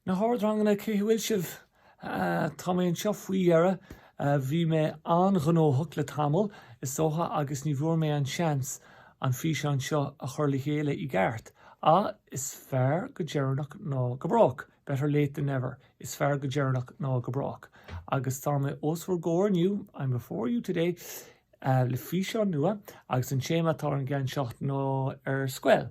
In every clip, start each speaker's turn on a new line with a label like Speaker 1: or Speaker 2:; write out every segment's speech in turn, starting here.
Speaker 1: Na hardranganna, cé bhfuil sibh? Tá mé anseo faoi dheireadh. Bhí mé an-ghnóthach le tamall, is dócha, agus ní bhfuair mé an seans an físeán seo a chur le chéile i gceart. Ah, is fearr go deireanach ná go brách, better late than never, is fearr go deireanach ná go brách, agus tá mé os bhur gcomhair inniu, I'm before you today, le físeán nua agus an téama atá ar an gceann seo ná ar scoil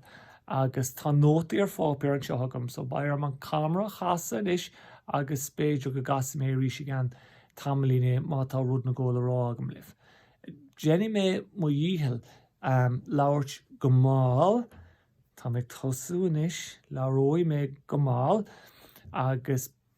Speaker 1: agus tá nótaí ar pháipéar anseo agam so beidh orm an camera a chasadh anois agus b'fhéidir go gcasfaidh mé arís i gceann tamaillín é má tá rud éigin le rá agam libh. Déanfaidh mé mo dhícheall labhairt go mall, tá mé ag tosú anois, labhróidh mé go mall agus.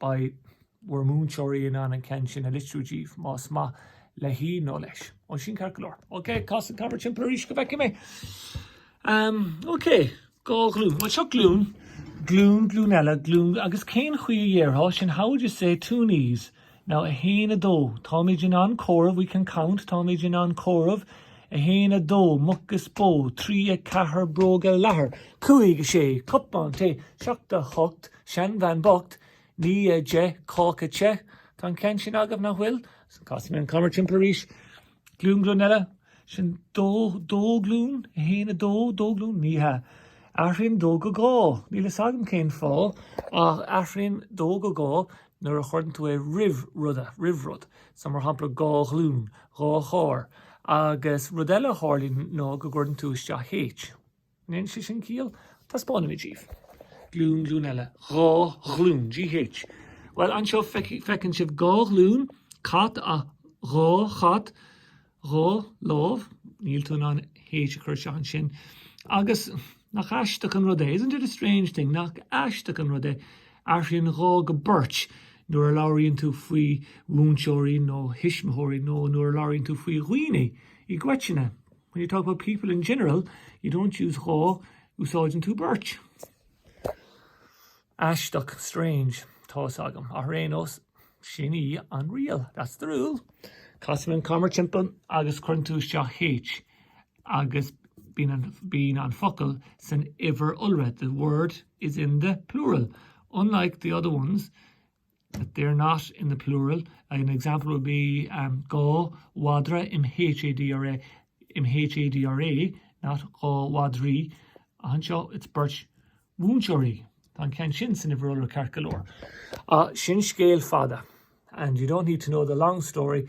Speaker 1: Beidh bhur múinteoirí in ann an ceann sin a litriú díbh, más maith léi nó leis. Ó, sin ceart go leor. OK, cas an camera timpeall arís go bhfeicfidh mé. Ahm, OK, dhá ghlúin. Bhuel, seo glúin, glúin, glúin eile, glúin, agus cén chaoi a déarfá sin? How would you say two knees? Now, a haon, a dó. Táimid in ann comhaireamh, we can count. Táimid in ann comhaireamh. A haon, a dó, muc is bó. Trí, a ceathair, bróga leathair. Cúig, a sé, cupán tae. Seacht, a hocht. Seanbhean bocht, naoi, a deich, cáca te. Tá an ceann sin agaibh, nach bhfuil? Casfaidh mé an camera timpeall arís. Glúin, glúin eile? Sin dó, dó glúin? A haon, a dó, dó glúin? Ní hea. Athraíonn dó go dhá. Níl fhios agam cén fáth, ach athraíonn dó go dhá nuair a chuireann tú é roimh rud, roimh rud. So, mar shampla, dhá ghlúin, dhá charr. Agus rud eile a tharlaíonn ná go gcuireann tú isteach H. An ndéanann sé sin ciall? Taispeánfaidh mé daoibh. Glúin, glúin eile. Dhá ghlúin. GH, Bhuel, anseo feicfidh, feiceann sibh dhá ghlúin, cat a, dhá chat, dhá lámh, níl tú in ann H a chur isteach ansin, agus, nach aisteach an rud é, isn't it a strange thing, nach aisteach an rud é, athraíonn dhá go beirt nuair a labhraíonn tú faoi mhúinteoirí nó thuismitheoirí nó nuair a labhraíonn tú faoi dhaoine i gcoitinne. When you talk about people in general, you don't use dhá, úsáideann tú beirt. Aisteach, strange. Tá's agam, ach ar aon nós, sin í an riail, that's the rule. Casfaidh mé an camera timpeall agus cuireann tú isteach H agus bíonn an focal san uimhir iolra, the word is in the plural, unlike the other ones, they are not in the plural, an example would be um dhá mhadra m-h-a-d-r-a m-h-a-d-r-a, not dhá mhadraí anseo, it's beirt mhúinteoirí, tá an ceann sin san uimhir iolra ceart go leor. Ach sin scéal fada and you don't need to know the long story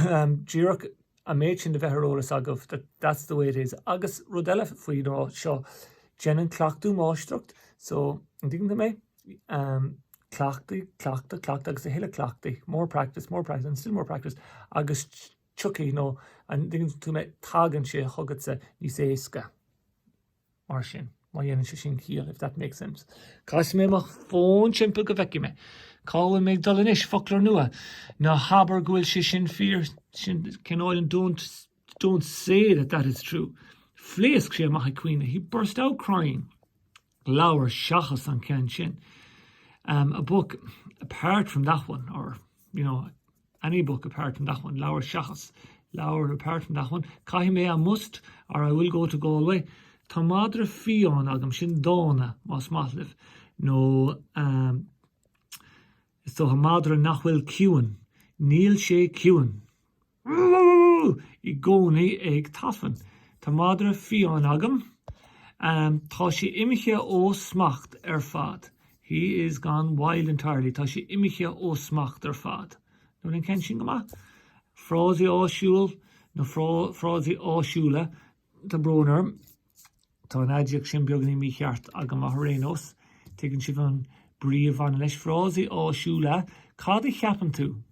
Speaker 1: um díreach an méid sin a bheith ar eolas agaibh that that's the way it is. Agus rud eile faoi ná seo, déanann cleachtadh máistreacht so an dtuigeann tú mé? Um. Cleachtadh, cleachtadh, cleachtadh agus a thuilleadh cleachtaidh, more practice, more practice and still more practice agus tiocfaidh, nó an dtuigeann tú mé, tagann sé chugatsa níos éasca. Mar sin, má dhéanann sé sin ciall, if that makes sense. Casfaidh mé mo fón timpeall go bhfeicfidh mé cá bhfuil muid ag dul anois, foclóir nua. Ná habair go bhfuil sé sin fíor, sin cineál don't, don't say that that is true. Phléasc sé amach ag caoineadh, he burst out crying. leabhar seachas an ceann sin um a book apart from that one or, you know, any book apart from that one leabhar seachas leabhar apart from that one caithfidh mé I must or I will go to Galway Tá madra fiáin agam, sin dána, más maith libh, nó um so tá madra nach bhfuil ciúin, Níl sé ciúin. i gcónaí ag tafann. Tá madra fiáin agam. Tá sé imithe ó smacht ar fad. He is gone wild entirely, Tá sé imithe ó smacht ar fad. Nach bhfuil an ceann sin go maith? Frásaí áisiúil nó frásaí áisiúla Tá brón orm, tá an aidiacht sin beagainín mícheart agam ach ar aon nós, tuigeann sibh an brí a bhaineann leis. Frásaí áisiúla Cad a cheapann tú?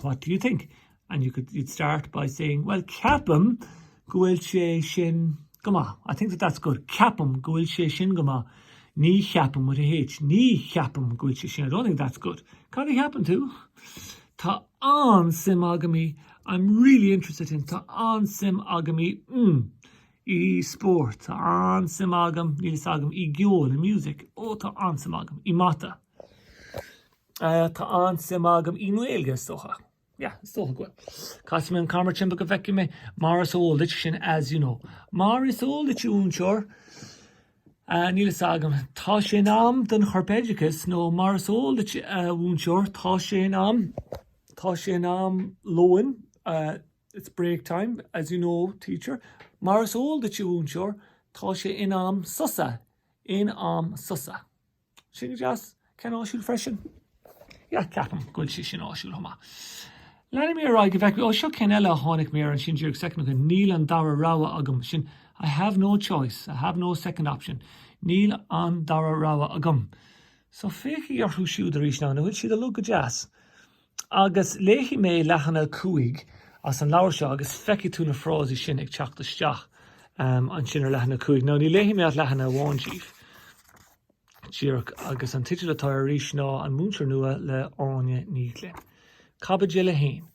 Speaker 1: What do you think? And you could, you'd start by saying, Bhuel, ceapaim go bhfuil sé sin go maith. I think that that's good. Ceapaim go bhfuil sé sin go maith. Ní cheapaim with a H. Ní cheapaim go bhfuil sé sin. I don't think that's good. Cad a cheapann tú? Tá an-suim agam i I'm really interested in Tá an-suim agam i mm, i sport. Tá an-suim agam, níl fhios agam, i gceol, i music. Ó, tá an-suim agam, i mata. Tá an-suim agam i nGaeilge, is dócha. Yeah, is dócha go bhfuil. Casfaidh mé an camera timpeall go bhfeicfidh mé mar is eol duit sin, as you know. Mar is eol duit, a mhúinteoir, níl fhios agam, tá sé in am don chorpoideachas nó mar is eol duit, a mhúinteoir, tá sé in am, tá sé in am lóin, it's break time, as you know, teacher. Mar is eol duit, a mhúinteoir, tá sé in am sosa, in am sosa. sé go deas, ceann áisiúil freisin. Yeah, ceapaim go bhfuil sé sin áisiúil chomh maith. Leanfaidh mé ar aghaidh go bhfeice mé, ó seo ceann eile a tháinig mé air ansin díreach soicind ó shin, níl an dara rogha agam, sin I have no choice, I have no second option, níl an dara rogha agam. So féachaigí orthu siúd arís now, an bhfuil siad uilig go deas? Agus léifidh mé leathanach a cúig as an leabhar seo agus feicfidh tú na frásaí sin ag teacht isteach ansin ar leathanach a cúig. Now, ní léifidh mé ach leathanach amháin díbh, díreach, agus an teideal atá air arís ná An Múinteoir Nua le Áine Ní Ghlinn. Caibidil a haon.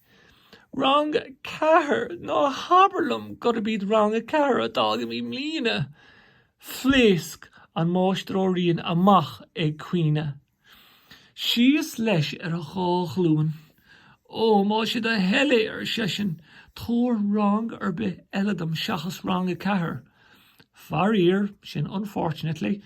Speaker 1: Rang a ceathair! Ná habair liom gurb iad Rang a ceathair atá agam i mbliana! Phléasc an Máistir Ó Riain amach ag caoineadh Síos leis ar a dhá ghlúin. Ó, má sé do thoil é, ar seisean, tabhair rang ar bith eile dom seachas rang a ceathair. Faraor, sin unfortunately,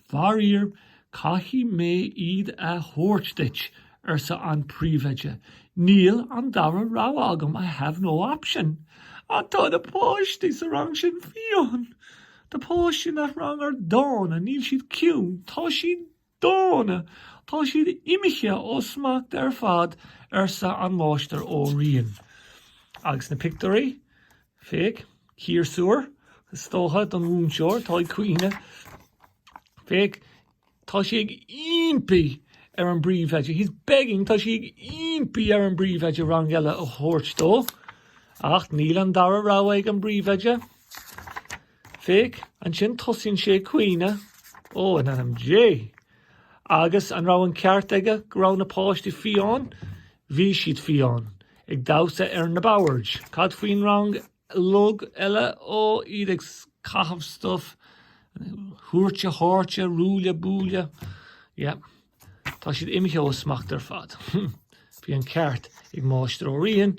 Speaker 1: faraor, caithfidh mé iad a thabhairt duit, arsa an príomhoide. Níl an dara rogha agam, I have no option. Ach tá na páistí sa rang sin fiáin. Na páistí in that rang are dána, níl siad ciúin, tá siad Dána, tá siad imithe ó smacht ar fad, arsa an Máistir Ó Riain. Agus na pictiúirí? Féach, ciarsúr, is dócha, don mhúinteoir atá ag caoineadh. Féach, tá sé ag ímpí ar an bpríomhoide, he's begging, tá sé ag ímpí ar an bpríomhoide rang eile a thabhairt dó. Ach níl an dara rogha ag an bpríomhoide. Féach, ansin tosaíonn sé ag caoineadh, Ó, in ainm Dé! Agus an raibh an ceart aige go raibh na páistí fiáin? Bhí siad fiáin. Ag damhsa ar na boird. Cad faoin rang log eile? Ó, iad ag caitheamh stuif. Húirte háirte, ruaille buaille. Yeah. Tá siad imithe ó smacht ar fad. Bhí an ceart ag Máistir Ó Riain.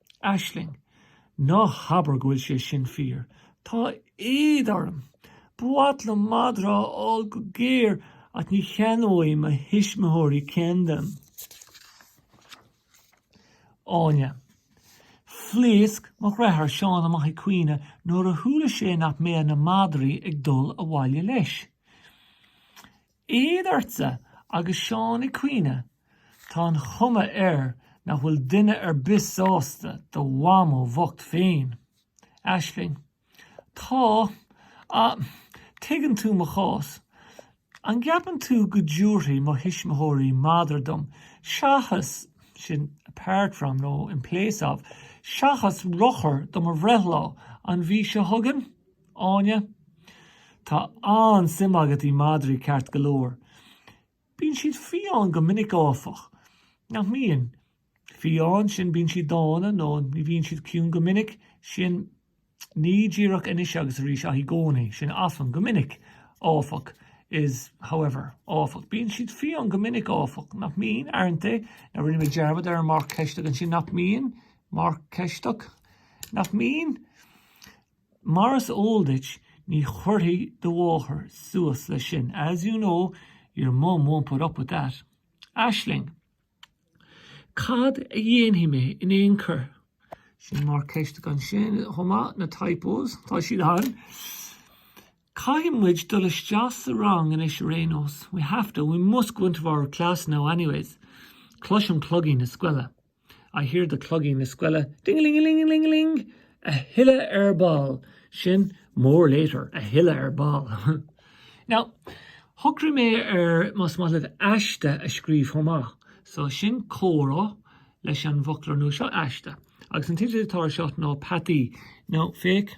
Speaker 1: Aisling, Ná habair go bhfuil sé sin fíor. Tá éad orm. Ba mhaith liom madra a fháil go géar ach ní cheannóidh mo thuismitheoirí ceann dom. Áine, Phléasc mo dheartháir Seán amach ag caoineadh nuair a chuala sé nach mbeadh na madraí ag dul abhaile leis. Éad ortsa! Agus Seán ag caoineadh. Tá an chuma air nach bhfuil duine ar bith sásta do mhamó bhocht féin. Aisling, Tá, ach tuigeann tú mo chás. An gceapann tú go dtiúrfaidh mo thuismitheoirí madra dom seachas, sin apart from nó in place of, seachas rothar do mo bhreithlá an mhí seo chugainn? Áine, Tá an-suim agat í madraí ceart go leor. Bíonn siad fiáin go minic áfach, nach mbíonn? Fiáin, sin bíonn siad dána nó ní bhíonn siad ciúin go minic, sin, ní díreach anois agus arís ach i gcónaí, sin often, go minic áfach is however áfach, bíonn siad fiáin go minic áfach, nach mbíonn? aren't they? Now rinne mé dearmad ar an marc ceisteach ansin, nach mbíonn? marc ceisteach, nach mbíonn? Mar is eol duit, ní chuirfidh do mháthair suas leis sin, as you know, your mum won't put up with that. Aisling, Cad a dhéanfaidh mé in aon chor? Sin marc ceiste ansin chomh maith, na typos, tá siad ann! Caithfidh muid dul isteach sa rang anois ar aon nós, we have to, we must go into our class now anyways. Cloisim cloigín na scoile. I hear the cloigín na scoile ding-a-ling-a-ling-a-ling-a-ling a thuilleadh ar ball. Sin more later, a thuilleadh ar ball. Now, shocraigh mé ar, más maith libh aiste a scríobh chomh maith, so sin comhrá leis an bhfoclóir nua seo, aiste. Agus an teideal atá air seo ná Peataí. Now, féach.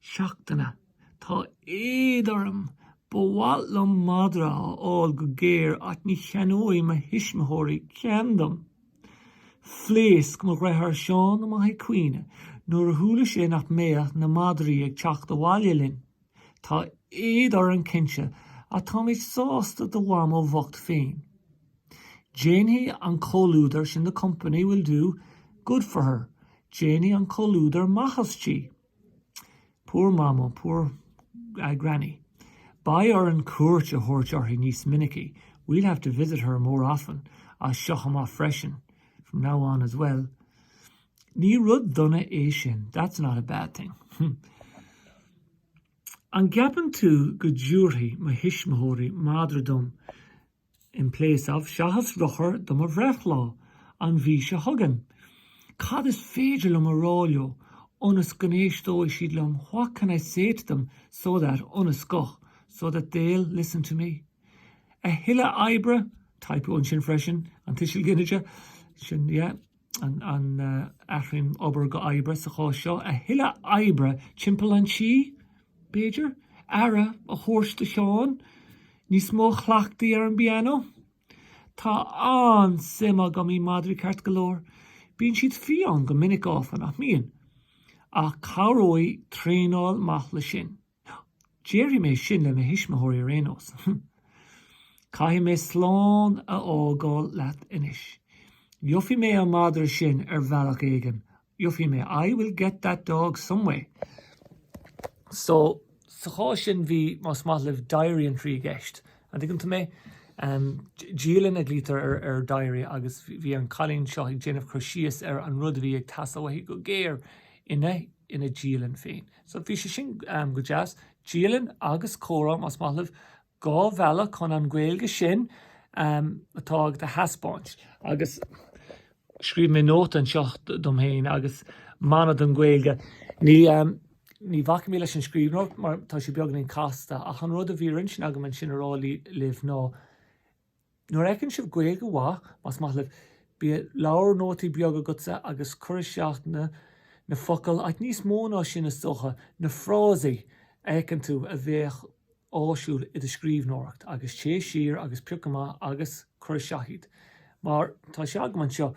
Speaker 1: seachtaine. Tá éad orm. Ba mhaith liom madra a fháil go géar ach ní cheannóidh mo thuismitheoirí ceann dom. Phléasc mo dheartháir Seán amach ag caoineadh nuair a chuala sé nach mbeadh na madraí ag teacht abhaile linn. Tá éad orainn cinnte ach táimid sásta do mhamó bhocht féin. Déanfaidh an comhluadar sin the company will do good for her déanfaidh an comhluadar maitheas di. Poor Mamó, poor, eh, Granny. Beidh orainn cuairt a thabhairt uirthi níos minicí, we'll have to visit her more often, as seo amach freisin, from now on as well. Ní rud dona é sin, that's not a bad thing. An gceapann tú go dtiúrfaidh mo thuismitheoirí madra dom in place of seachas rothar do mo bhreithlá an mhí seo chugainn, cad is féidir liom a rá leo ionas go n-éisteoidh siad liom what can I say to them so that ionas go so that they'll listen to me? a thuilleadh oibre, typo ansin freisin, an tuiseal ginide, sin, yeah. an athraíonn obair go oibre sa chás seo? a thuilleadh oibre timpeall an tí, b'fhéidir? aire a thabhairt do Sheán? níos mó cleachtaidh ar an bpianó? Tá an-suim agam í madraí ceart go leor. Bíonn siad fiáin go minic áfach, nach mbíonn? Ach cabhróidh traenáil maith leis sin. Déarfaidh mé sin le mo thuismitheoirí ar aon nós. Caithfidh mé slán a fhágáil leat anois. Gheofaidh mé an madra sin ar bhealach éigin, gheofaidh mé, I will get that dog some way. So, sa chás sin bhí, más maith libh, diary entry i gceist, an dtuigeann tú mé? Dialann a ghlaoitear ar diary agus bhí an cailín seo ag déanamh cur síos ar an rud a bhí ag teastáil uaithi go géar ina ina dialann féin. So, bhí sé sin go deas. Dialann agus comhrá, más maith libh, dhá bhealach chun an Ghaeilge sin atá agat a thaispeáint. Agus scríobh mé nóta anseo dom féin agus mana don Ghaeilge. Ní bhacfaidh mé leis an scríbhneoireacht mar tá sé beagáinín casta, ach an rud a bhí ar intinn agam ansin a rá libh ná, Nuair a fheiceann sibh Gaeilge mhaith, más maith libh, bíodh leabhar nótaí beag agatsa agus cuir isteach na na focail, ach níos mó ná sin is dócha, na frásaí a fheiceann tú a bheadh áisiúil i do scríbhneoireacht agus téigh siar agus pioc amach agus cuir isteach iad. Mar tá sé agam anseo.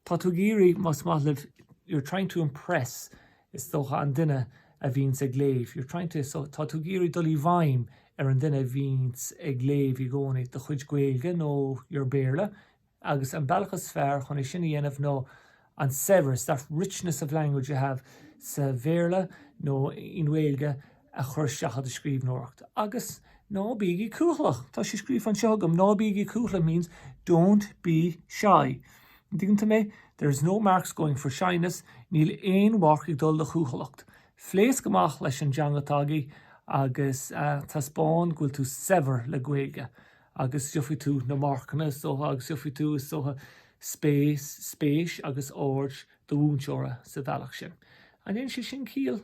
Speaker 1: Tá tú ag iarraidh, más maith libh, you're trying to impress is dócha, an duine a bhíonns ag léamh, you're trying to so tá tú ag iarraidh dul i bhfeidhm ar an duine a bhíonns ag léamh i gcónaí, do chuid Gaeilge nó your Béarla, agus an bealach is fearr chun é sin a dhéanamh ná an saibhreas, that richness of language you have sa Bhéarla nó in Gaeilge, a chur isteach i do scríbhneoireacht agus ná bígí cúthalach! Tá sé scríofa anseo agam, ná bígí cúthalach means don't be shy. An dtuigeann tú mé? There's no marks going for shyness, níl aon mharc ag dul do chúthalacht. Pléasc amach leis an dteanga atá agaibh agus taispeáin go bhfuil tú saibhir le Gaeilge agus gheofaidh tú na marcanna is dócha agus gheofaidh tú, is dócha, spéis agus aird do mhúinteora sa bhealach sin. An ndéanann sé sin ciall